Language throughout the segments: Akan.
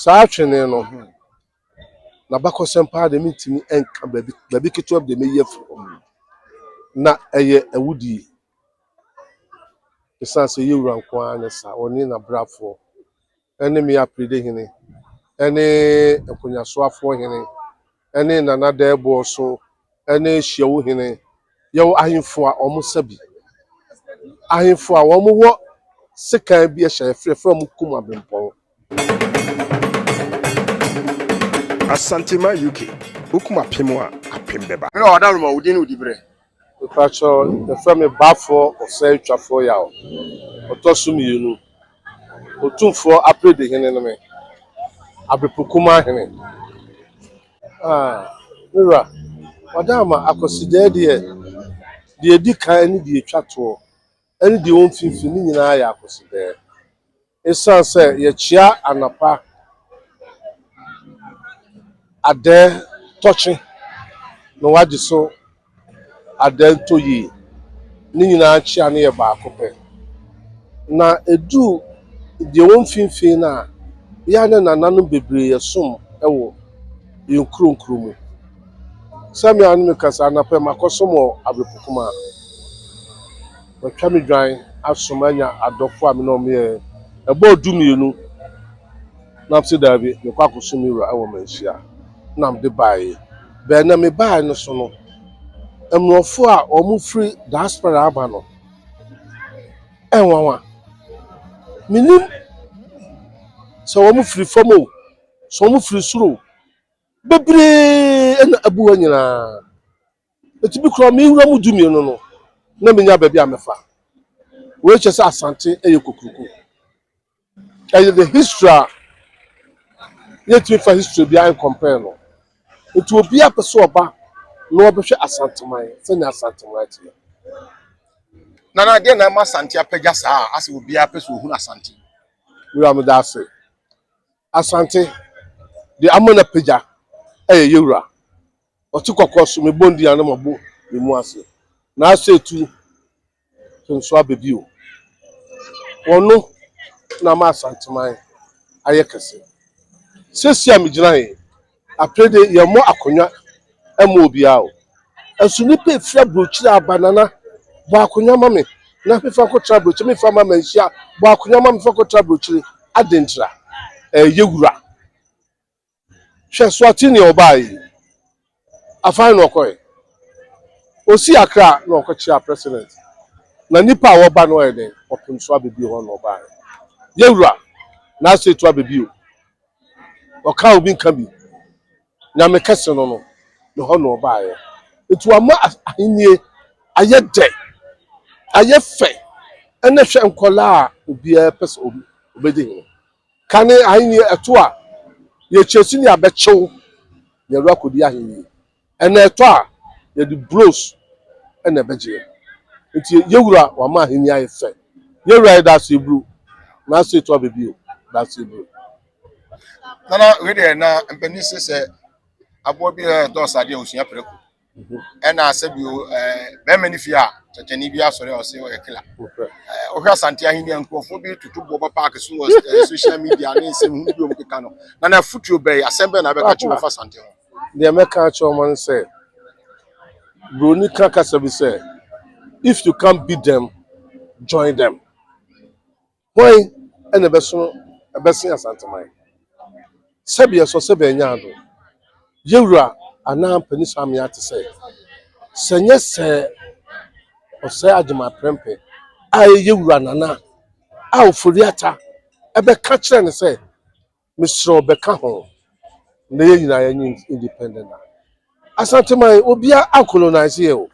Saa twene no ho n'abakɔsɛm paa deɛ mentumi nka baabi baabi ketewa bi deɛ meyi afiri hɔ na ɛyɛ awudie ɛsiane sɛ ɛyɛ wura nko ara ne saa ɔne n'abrafoɔ ɛne me apiride hene ɛne nkonyasoafoɔ hene ne Nana Dɛɛboɔ so ne Hyiawu Hene. Yɛwɔ ahemfo a wɔn sa bi. Ahemfo a wɔn wɔ sekan bi hyɛ yɛfrɛ frɛ wɔn kum abempɔn. Asantema UK, wokum apem a apem bɛba. Mewɔ ɔdaworo ma wo din ne wo diberɛ. Mepakyɛ wo, yɛfrɛ me Bafoɔ Ɔsɛetwafoɔ Yaw, Ɔtɔ so Mmienu. Otumfoɔ Apredi Hene ne me, Abepokumaa Hene. Ah, me wura, wɔada ama Akwasidaa deɛ, deɛ ɛdi kan ne deɛ ɛtwa toɔ, ɛne deɛ ɛwɔ mfimfini, ne nyinaa yɛ Akwasidaa. Esiane sɛ yɛkyea anapa adɛɛ tɔkye na wɔagye so adɛɛ ntɔyie, ne nyinaa nkyea no yɛ baako pɛ. Na ɛdu deɛ ɛwɔ mfimfini no a, yɛ a na nananom bebree yɛ som wɔ yɛn kuro nkuro mu. Sɛmea ne meka sɛ anapa yi makɔsom wɔ Abrepokuma. Watwa me dwan aso manya adɔfo a me ne wɔn yɛ ɛbɔɔ dumienu, na mese daabi, mekɔ akɔsom me wura wɔ manhyia na mede baeɛ. Bɛn na mebaeɛ no so no, mmorɔfo a wɔfiri diaspora aba no, ɛnwanwa. Menim sɛ wɔfiri fam o, sɛ wɔfiri soro o, bebree na abu hɔ nyinaa. Ɛtumi kura me nwura mu du mmienu no na menya baabi a mɛfa. Wei kyerɛ sɛ Asante yɛ kokuroko. Ɛyɛ the history a yɛntumi fa history biara nkɔmpɛɛ no. Nti obiara pɛ sɛ ɔba na ɔbɛhwɛ Asanteman sɛnea Asanteman teɛ. Nana, deɛ na ɛma Asante apagya saa a asɛ obiara pɛ sɛ ɔhunu Asante? Wura meda ase. Asante, deɛ ama no apagya yɛ yɛwura Ɔte kɔkɔ so me bɔ ndua na mabɔ me mu ase Naaso etu to nso aba bio Ɔno na ama Asantseman ayɛ kɛse Sesi a megyina he apere de yɛmmɔ akonnwa mma obiara o Nso nipa efiri aburokyire aba Nana bɔ akonnwa ma me na mefa nkɔtra aburokyire Mefa ama manhyia bɔ akonnwa ma me fa nkɔtra aburokyire Adɛn ntira? Ɛɛ yɛ wura. Hwɛ Suati nea ɔbaa yi, Afan na ɔkɔɛ, ɔsii Accra na ɔkɔkyea President na nnipa a wɔba no ayɛ dɛn? Ɔpem so abɛbio hɔ na ɔbaeɛ. Yɛwura na asɛ tu abɛbio, ɔka a obi nka bi, Nyame kɛse no no ne hɔ na ɔbaeɛ. Nti wama ahennie ayɛ dɛ, ayɛ fɛ, ɛnɛ hwɛ nkwadaa a obiara pɛ sɛ ɔbɛdi hene. Kane ahenni ɛtɔ a, yɛkyerɛ sini abɛkyew yɛn werɛ akɔdi ahenni. Ɛna ɛtɔ a, yɛde bros na ɛbɛgye yɛn. Nti yɛwura wama ahenni ayɛ fɛ. Yɛwura yɛ Daaseebro. Nanso ɛtɔ aba bio, Daaseebro. Nana, wei deɛ na mpanin se sɛ aboa bi a ɛdɔɔso adeɛ a ɔsua prako. ɛna asɛ bio bɛrima no fie a kyɛkyɛni bi asɔre a ɔsɛ ɔyɛ killer ɔhwɛ asante ahenni a nkurɔfoɔ bi tutu boɔ ba paaki so wɔ social media ne nsɛm ho bi ɔmo keka no na na afutuo bɛyɛ asɛm bɛyɛ na abɛka kyerɛ ɔfa asante ho deɛ mɛka akyerɛ ɔmo no sɛ buroni ka kasa bi sɛ if you can't beat them join them Hwan na ɛbɛso bɛsen Asanteman? Sɛbeɛ sɔ sɛ bɛanya ado. Yewura anaa Mpanin Samia te sɛ, sɛ nyɛ sɛ ɔsɛe Agyeman Prɛmpɛ a ɛyɛ Yewura Nana a Ofori Atta bɛka kyerɛ no sɛ, Mesrɛ wo bɛka ho na yɛn nyinaa yɛnyɛ independent a Asanteman obiara ankolonise yɛn o.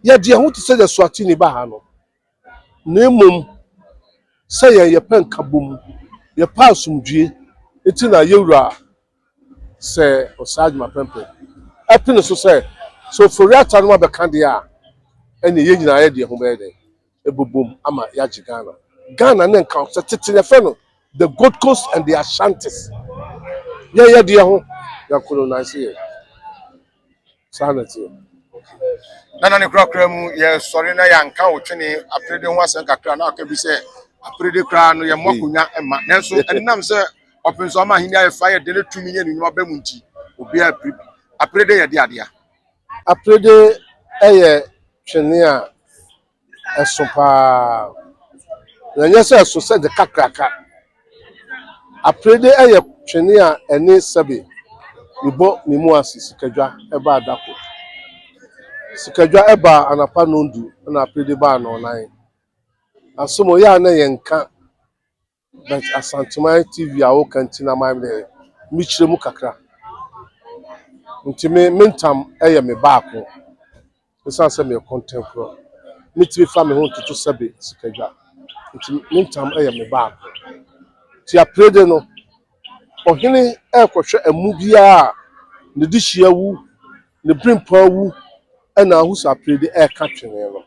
Yɛde yɛn ho te sɛ Eswatini ba ha no na mmom sɛ yɛn yɛpɛ nkabom, yɛpɛ asomdwoe nti na yɛwura sɛ Osagyim Apɛmpɛ apene so sɛ sɛ Ofori-Atta no abɛka deɛ a ɛnneɛ yɛn nyinaa yɛde yɛn ho bɛyɛ dɛn? ɛbɛbom ama yɛagye Ghana. Ghana ne nka sɛ tete yɛfrɛ no the Gold Coast and the Ashantis. Yɛyɛ deɛ ho na colonize yɛ. Saa na ɛteɛ. Nana ne korakora mu yɛsɔre na yɛanka wo twene aperede ho asɛm kakra na aka bi sɛ aperede koraa no yɛmmɔ akonnwa mma nanso ɛnam sɛ ɔpemso ama ahenni ayɛ fa yɛ de ne tumi ne ne nnwuma ba mu nti obiara apiri bi aperede yɛ de adea Aperede yɛ twene a ɛso pa ara, na ɛnyɛ sɛ ɛso sɛ de kakraka. Aperede yɛ twene a ɛne sɛbe mebɔ me mu ase sikadwa baa da koro. Sikadwa baa anɔpa nnɔndu, ɛnna aperede baa nnɔnnan. Asom, yɛ a na yɛnka. But Asanteman TV a woka nti na mayɛ dɛ mekyerɛ mu kakra. Nti me me ntam yɛ me baako ɛsiane sɛ meyɛ kɔntɛnkorɔ. Metumi fa me ho ntoto sɛbe sikadwa. Nti me ntam yɛ me baako. Nti aperede no, ɔhene rekɔhwɛ amu biara a ne dehyeɛ awu. Ne berempɔn awu na ahosu aperede reka twene no.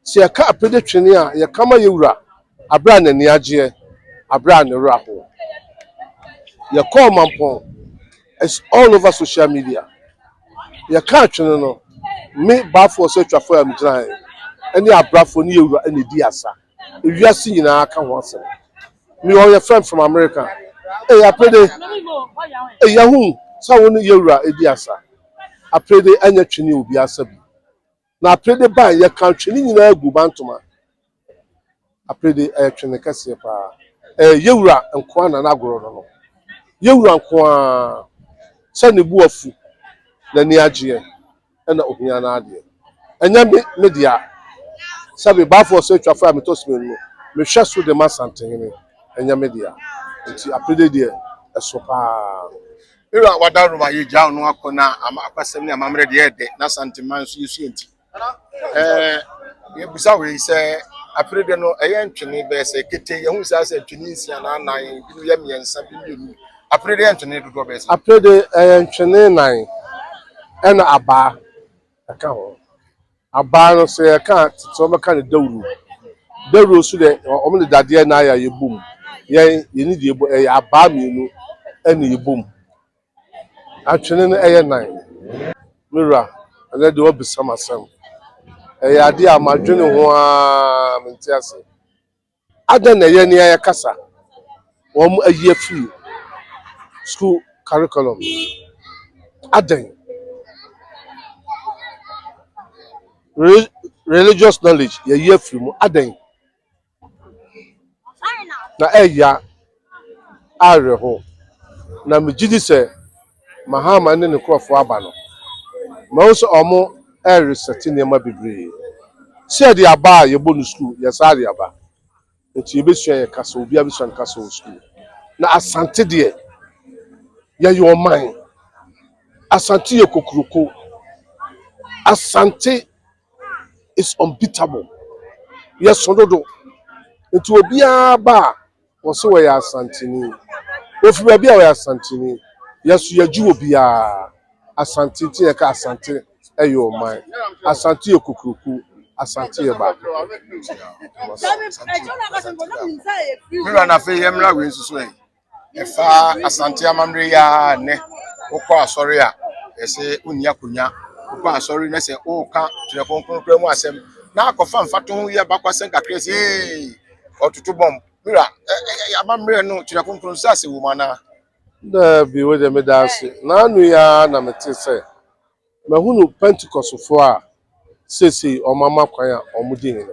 Sɛ yɛka aperede twene a, yɛka ma yɛn wura bere a n'ani agyeɛ, bere a ne werɛ ahoɔ. Yɛkɔɔ Mampɔn, it's all over social media. Yɛkaa twene no, me baafoɔ so atwafoɔ a megyinaeɛ ne abrafoɔ ne yɛn wura na ɛdii asa. ewiase nyinaa ka ho asɛm. Meyɛ ɔyɛfrɛm from America. Ei Aprede, ei yɛahu sɛ wo ne yɛwura edi asa. Aprede ɛnyɛ twene o obiara sa bi. Na Aprede bae yɛka twene nyinaa gu bantoma. Aprede ɛyɛ twene kɛseɛ paa. Ɛyɛ yɛwura nkoa na n'agorɔ no no. Yɛwura nkoaa sɛ ne bo afu, n'ani agyeɛ. na ohia n'adeɛ. Ɛnyɛ me, me dea. Sɛbe, Baafoɔ sɛ atwafoɔ a metɔ simeni no, mehwɛ so de ma Asantehene. Ɛnyɛ me dea. Nti apede deɛ, ɛso pa ara. Bere a wɔadaworo ma yɛagyaw no akɔ na ama akwasɛm ne amammerɛ de yɛyɛ dɛ na Asanteman nso yɛsua nti, ɛɛ yɛbisa wei sɛ, apede deɛ no, ɛyɛ ntwene bɛyɛ sɛ ketee. Yɛahu saa sɛ ntwene nsia anaa nnan, binom yɛ mmiɛnsa, bi mmienu. Aperede yɛ ntwene dodoɔ bɛyɛ sɛn? Aperede yɛ ntwene nnan ɛna abaa ɛka ho. Abaa no sɛ yɛka a tete wɔn bɛka no dawuro. Dawuro nso deɛ wɔn de dadeɛ na ayɛ a yɛbɔ mu. Yɛn yɛni deɛ yɛbɔ ɛyɛ abaa mmienu ɛna yɛbɔ mu. Atwene no ɛyɛ nnan. Me wura ɛnɛ deɛ wabisa me asɛm. Ɛyɛ adeɛ a madwene ho ara mente aseɛ. Adɛn na ɛyɛ nea yɛka sa wɔn ayi afiri sukuu curriculum? Adɛn? Re religious knowledge yɛayi afiri mu. Adɛn na ɛyɛ? awerɛhow, na megye di sɛ Mahama ne ne nkurɔfo aba no, mahu sɛ wɔresɛte nneɛma bebree. Sɛ yɛde aba a yɛbɔ no sukuu, yɛ saa de aba. Enti yebesua yɛn kasa, obiara besua ne kasa wɔ sukuu. Na Asante deɛ, yɛyɛ ɔman. Asante yɛ kokuroko. Asante is unbeatable. Yɛso dodo. Enti obiara ba a, wɔse wɔyɛ Asanteni. Wɔfiri baabi a wɔyɛ Asanteni. Yɛso yɛgye wɔ biara. Asante nti na yɛka Asante yɛ ɔman. Asante yɛ kokuroko. Asante yɛ baako pɛ. Me wura na afei yɛmmra wei nso so ɛ. Ɛfa Asante amammerɛ yi ara nnɛ. Wokɔ asɔre a, ɛsɛ wonni akonya. Wokɔ asɔre na sɛ woka Twerɛ Kronkron koraa mu asɛm na akɔfa mfatoho yi abakwasɛm kakra yi sɛ ee. ɔtoto bɔmb. Mira, ɛ ɛ ɛ amammerɛ no kyerɛ kronkron nsase wom anaa? Daabi, wei deɛ meda ase. Nnaano yi ara na mete sɛ mahunu Pentecostfoɔ a seesei wɔama kwan a wɔdi hene.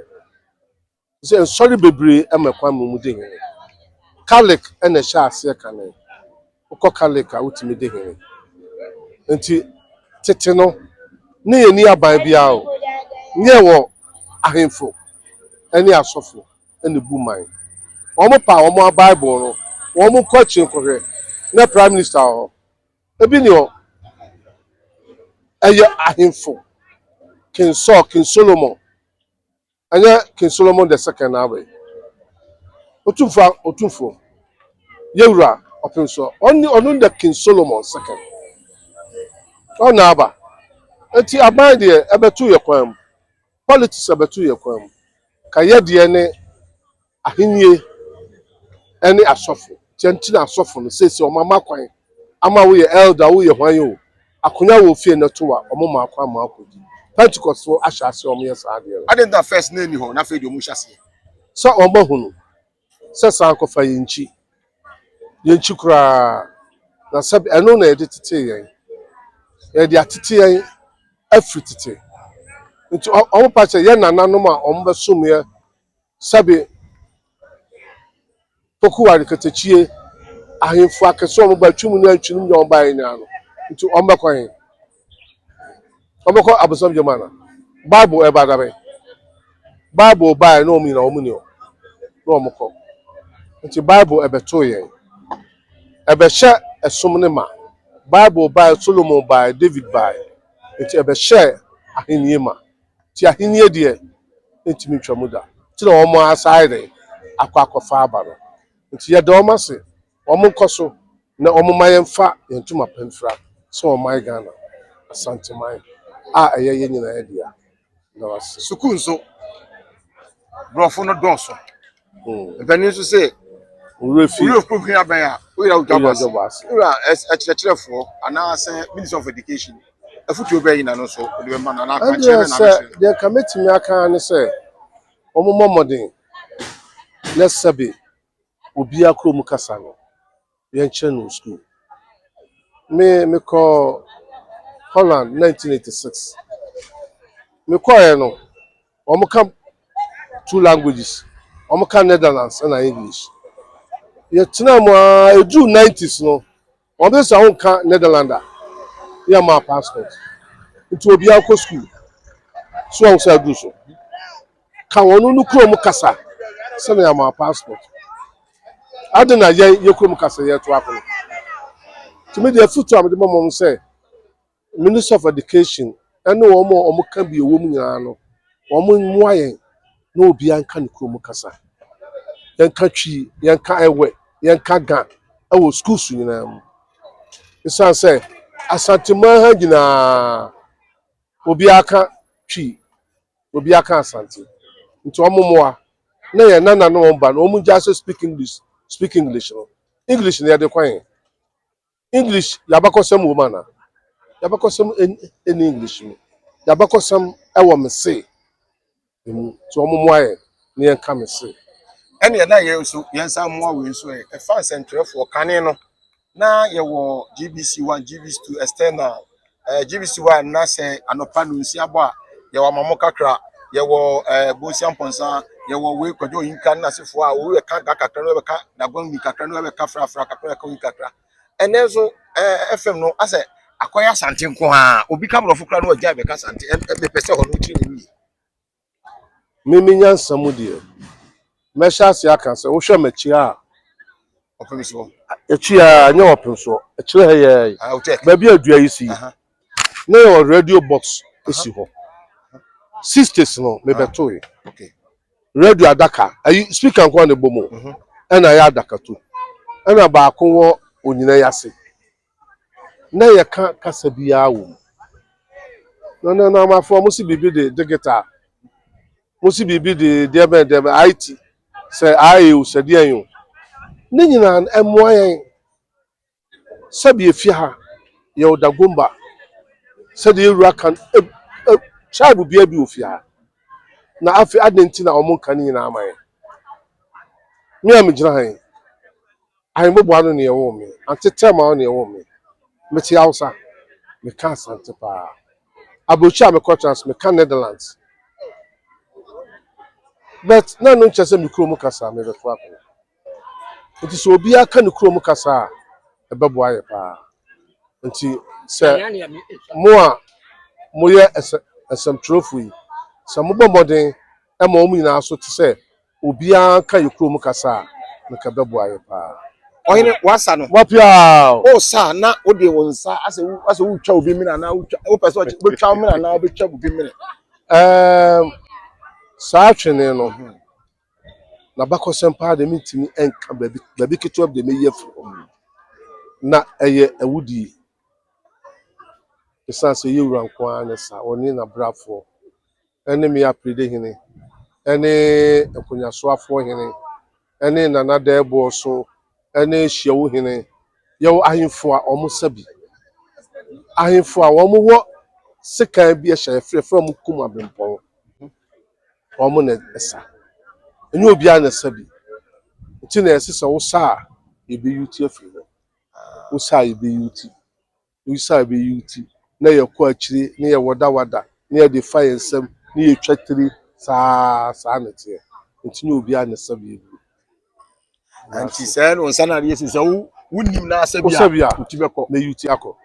Te sɛ nsɔre bebree ma kwan ma wɔdi hene. Catholic na ɛhyɛɛ aseɛ kane. wokɔ Catholic a wotumi di hene. Nti tete no ne yɛnni aban biara o, ne yɛwɔ ahemfo ne asɔfo na ebu man. Wɔn pa wɔn a Bible no, wɔn nkɔ akyiri nkɔhwɛ na prime minister wɔ hɔ. Ebi ni hɔ, ɛyɛ ahemfo, King Saul, King Solomon. Ɛnyɛ King Solomon the Second naa wei? Otumfo a Otumfo, yɛ Wura ɔpem so, ɔno ɔno the King Solomon Second, ɔno na aba. Enti aban deɛ ɛbɛto yɛ kwan mu, politics ɛbɛto yɛ kwan mu, ka yɛ deɛ ne Ahenni ne asɔfo. Nti ɛno nti na asɔfo no seesei wɔn ama kwan ama wo yɛ elder wo yɛ hwan oo akonya wɔ ofie no to a wɔn maa kwan ma akɔdi. Pentecost fo ahyɛ aseɛ wɔn yɛ saa adeɛ no. Adɛn nti na first na ɛnni hɔ na afei deɛ wɔn hyɛ aseɛ. Sɛ wɔn ahunu sɛ saa nko fa yɛn kyi yɛn kyi koraa na sɛ ɛno na yɛde tetee yɛn yɛde atete yɛn afiri tete nti wɔn pa kyɛ yɛn nananom a wɔn bɛ som yɛ Sɛbe pokuwa ne katakyie, ahemfo akɛse a wɔba twi mu ne antwi no mu nyinaa wɔbaeɛ nyinaa no, nti wɔbɛkɔ he? Wɔbɛkɔ abosam gya mu ana? Bible ɛba da bɛn? Bible baeɛ na wɔn nyinaa wɔn ni hɔ na wɔkɔ. Nti Bible ɛbɛtoo yɛn. Ɛbɛhyɛ ɛsom no ma. Bible baeɛ, Solomon baeɛ, David baeɛ. Nti ɛbɛhyɛɛ ahennie ma. Nti ahennie deɛ ɛntumi ntwa mu da. Nti na wɔn asan ayɛ dɛn? Akɔ akɔfa aba no. Nti yɛda wɔn ase, wɔn nkɔ so na wɔn mma yɛmfa yɛn ntoma pa mfira sɛ ɔman Ghana, Asanteman a ɛyɛ yɛn nyinaa dea. Meda mo ase. Sukuu nso, brɔfo no dɔɔso. Mpanin nso sɛ owura fi. Owura fi hia bɛn a oyira odwa bɔ ase. Owura ɛkyerɛkyerɛfoɔ anaasɛ minister of education afutuo bɛn yi na no nso ɔde bɛma no anaa akwankyerɛ bɛn na abɛkyerɛ no. Deɛ nka mɛtumi aka ara ne sɛ wɔmmɔ mmɔden na sɛbe obiara kurom kasa no. yɛnkyerɛ no sukuu. Me mekɔɔ Holland nineteen eighty six. Mekɔeɛ no, wɔka two languages. Wɔka Netherlands ɛna English. Yɛtenaa mu ara ɛduruu nineties no, wɔbɛsɛ sɛ wonka Netherlands a, ne yɛma wo passport. Nti obiara nkɔ sukuu. So wahu sɛ aduru so? ka wɔn no kurom kasa sɛnea yɛama passport. Ade na yɛn yɛ kurom kasa yɛ to akono. Tumi deɛ afutu a mede bɛma wɔn sɛ Ministry of Education ɛne wɔn a wɔn ka bi ɛwɔ mu nyinaa no wɔn mmoa yɛn na obiara nka ne kurom kasa. Yɛn ka twi, yɛn ka ɛwɛ, yɛn ka ga ɛwɔ schools nyinaa mu. Esan sɛ Asanteman ha nyinaa obiara ka twi. obi aka asante nti wɔn mmoa na yɛn nana ne wɔn ba no wɔn gya so speak english speak english no english na yɛde kwan yɛn english yabakɔsɛm wɔ mu ana yabakɔsɛm ɛni english mu yabakɔsɛm ɛwɔ me se ɛmu nti wɔn mmoa yɛn na yɛn ka me se. ɛne ɛna yɛn nso yɛn nsa mmoa wei nso ɛ ɛfa nsɛntwerɛfoɔ kane no Na yɛwɔ GBC one, GBC two, external. Eh, GBC one na sɛ anɔpa no nsia bɔ a, yɛwɔ amamɔ kakra. Yɛwɔ eh, bonsia mpɔnsa, yɛwɔ wei kwadwo oyinka ne n'asefoɔ a obi bɛka ga kakra na bɛka dagwamni kakra na bɛka frafra kakra bɛka oyi kakra. Ɛnɛ nso eh, FM no asɛ akɔyɛ asante nko ara. Obi ka borɔfo koraa na ɔgyae bɛka asante. Ɛm- ɛm- Mepɛ sɛ hɔ no wokyerɛ me mu yie. Me me nyansa mu deɛ, mɛhyɛ aseɛ aka sɛ wohwɛ m'akyi a. Ɔpem soɔ. Akyi a, nyɛ ɔpem soɔ. Akyire ha yɛ yi. Ah, check. Baabi a dua yi si. Na yɛwɔ radio box si hɔ. Sixties no, mebɛtoe. Okay. Radio adaka, ayi speaker nko a na ɛbɔ mu. Ɛna ayɛ adakatu. Ɛna baako wɔ onyina yi ase. na yɛka kasa biara wɔ mu. Na na na amafo wɔn si biribi de digital, wɔn si biribi de deɛ bɛn deɛ bɛn IT, sɛ ayɛ o sɛ deɛ yɛn o. Ne nyinaa no ɛmoa yɛn sɛbi efie ha yɛ ɔda gomba sɛdeɛ ewura kan e e tribe bia bi ofie ha na afei adan ti na wɔn nka ne nyinaa ama yɛn. Me a me gyina ha yi. Ahemboboa no nea ɛwoo me. Ante Thelma no nea ɛwoo me. Mete Hausa, meka Asante paa. Aburokyire a mekɔtena nso meka Netherlands. But na ɛno nkyerɛ sɛ me kurom mu kasa merebɛto akɔ. Nti sɛ obiara ka ne kurom mu kasa a, ɛbɛboa yɛ paa. Nti sɛ mo a moyɛ nsɛmtwerɛfo yi, sɛ mobɔ mmɔden ma wɔn nyinaa so te sɛ Obiaa nka yɛ kurom kasa a nka ɛbɛboa yɛ paa. Ɔhene, w'asa no? Wapiaw! O sa na wode wo nsa asɛ wo asɛ wotwa obi mene anaa wotwa wopɛ sɛ ɔkyɛ wotwa mene anaa wobɛtwa obi mene? Ɛɛm, saa twene no, n'abakɔsɛm paa deɛ mentumi nka baabi baabi ketewa bi deɛ mɛyi afiri hɔ. Na ɛyɛ awudie. Ɛsiane sɛ yɛwura nko ara ne saa, ɔne n'abrafoɔ ne Me Aperede Hene ne Nkonyasoafoɔ Hene ne Nana Dɛɛboɔ so ne Hyiawu Hene. Yɛwɔ ahemfo a wɔn sa bi. Ahemfo a wɔn wɔ sekan bi hyɛ yɛfrɛ yɛfrɛ wɔn kum abempɔn. Wɔn na ɛsa. Ɛnyɛ obiara na ɛsa bi. Nti na yɛse sɛ wosa a yɛbɛyi wo ti afiri hɔ. Wosa a yɛbɛyi wo ti. Esiane bere yi nti, na yɛkɔ akyiri na yɛwadawada na yɛde fa yɛn nsam na yɛtwa tiri saa ara. Saa na ɛteɛ. Enti nyɛ obiara na ɛsɛ bere bio. Enti sɛ ɛyɛ no nsa na adeɛ si sɛ wo wonnim na asɛ bi a, bi a wotu bɛkɔ. Na yuti akɔ.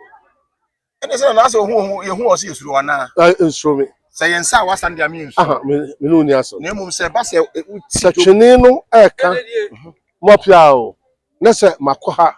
Ɛne sɛ na asɛ ohu ohu yɛhu ɔsɛ yɛsuro anaa? Eh, nsuro me. Sɛ yɛn nsa a wasan de ame nsu. Aha, me ne wo ni asɛm. Na mmom sɛ ɛba sɛ woti. Sɛ twene no ɛka mo apia o, na sɛ makɔ ha.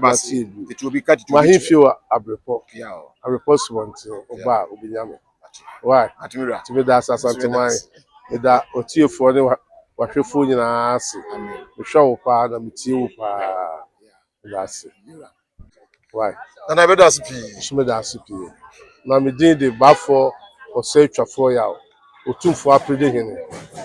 Masin bu m'ahemfie wɔ abrepɔ, abrepɔ subɔnten, ɔba a obenya me. Why? Nti meda ase Asanteman, meda otiefoɔ ne w'ahwɛfoɔ nyinaa ase. Mehwɛ wo paa na metie wo paa. Meda ase. Why? Nso meda ase pii. Na me din de Baafoɔ Ɔsɛetwafoɔ Yaw. Otumfoɔ Aperede Hene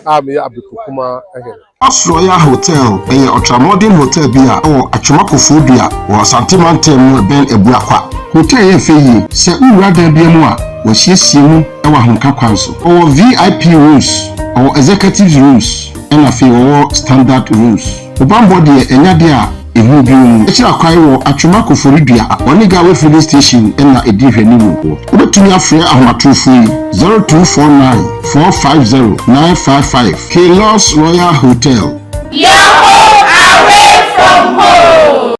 a meyɛ Abeku Kumaa Hene. Asorɔya Hotel yɛ ɔtramɔden hotel bi a ɛwɔ Atwema Koforidua wɔ Asante Mantam mu ɛbɛn Abura Kwa. Hotel yɛ fɛ yie. Sɛ wowura dan biara mu a, wɔasiesie mu wɔ ahomeka kwan so. Wɔwɔ VIP rooms, wɔwɔ executives rooms, ɛna afei wɔwɔ standard rooms. Wo bammɔ deɛ ɛnyɛ adeɛ a ɛhunu bio mu. Kyerɛ akwan wɔ Atwema Koforidua Oniga Way Filling Station na ɛdi nhwɛanimu hɔ. Wobɛtumi afrɛ ahomatorofo yi, 0249 450 955, Keylors Royal Hotel. Your home away from home.